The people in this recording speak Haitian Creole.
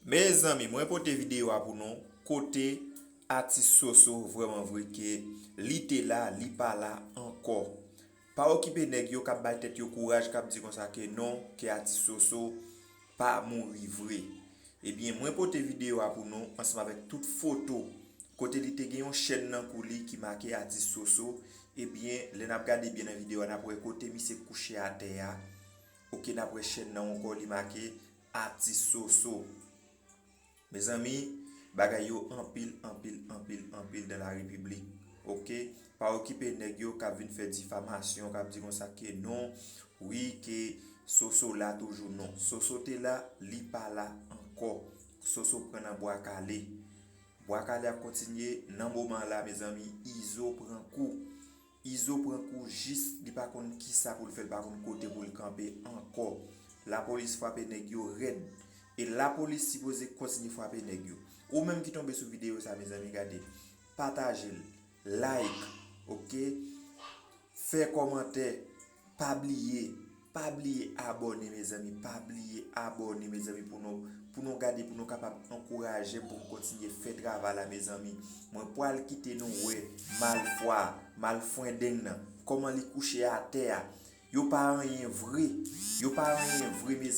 Mezanmi mwen pote video a pou nou kote atis soso vreman vre ke li te la li pa la anko pa okipe neg yo kap bay tet yo kouraj kap di konsa ke non ke atis soso pa mouri vre ebyen mwen pote video a pou nou ansanm avek tout foto kote li te gen yon chèn nan kou li ki make atis soso ebyen lè nap gade byen nan video a nap wè kote misye kouche atè a ok nap wè chèn nan anko li make Atis Soso. Mezanmi bagay yo anpil anpil anpil anpil dan la repiblik ok pa okipe nèg yo kap vin fè difamasyon kap di konsa ke non wi ke Soso la toujou non Soso te la li pa la ankò Soso pran nan bwa kale bwa kale ap kontinye nan moman la mezanmi Izo pran kou Izo pran kou jis li pa konn kisa poul fè l pa konn kote poul kanpe ankò lapolis fwape nèg yo rèd e lapolis sipoze kontinye fwape nèg yo ou menm ki tonbe sou videyo sa mezanmi gade patajel like ok fè kòmantè. Pa bliye Pa bliye abòne mezanmi Pa bliye abòne mezanmi pou nou Pou nou gade pou nou kapab ankourajem pou m kontinye fè travay la mezanmi Mwen pwal kite nou wè malfwa a Malfwendeng nan Kòman li kouche atè a Yo pa anyen vre Yo pa anyen vre mezanmi.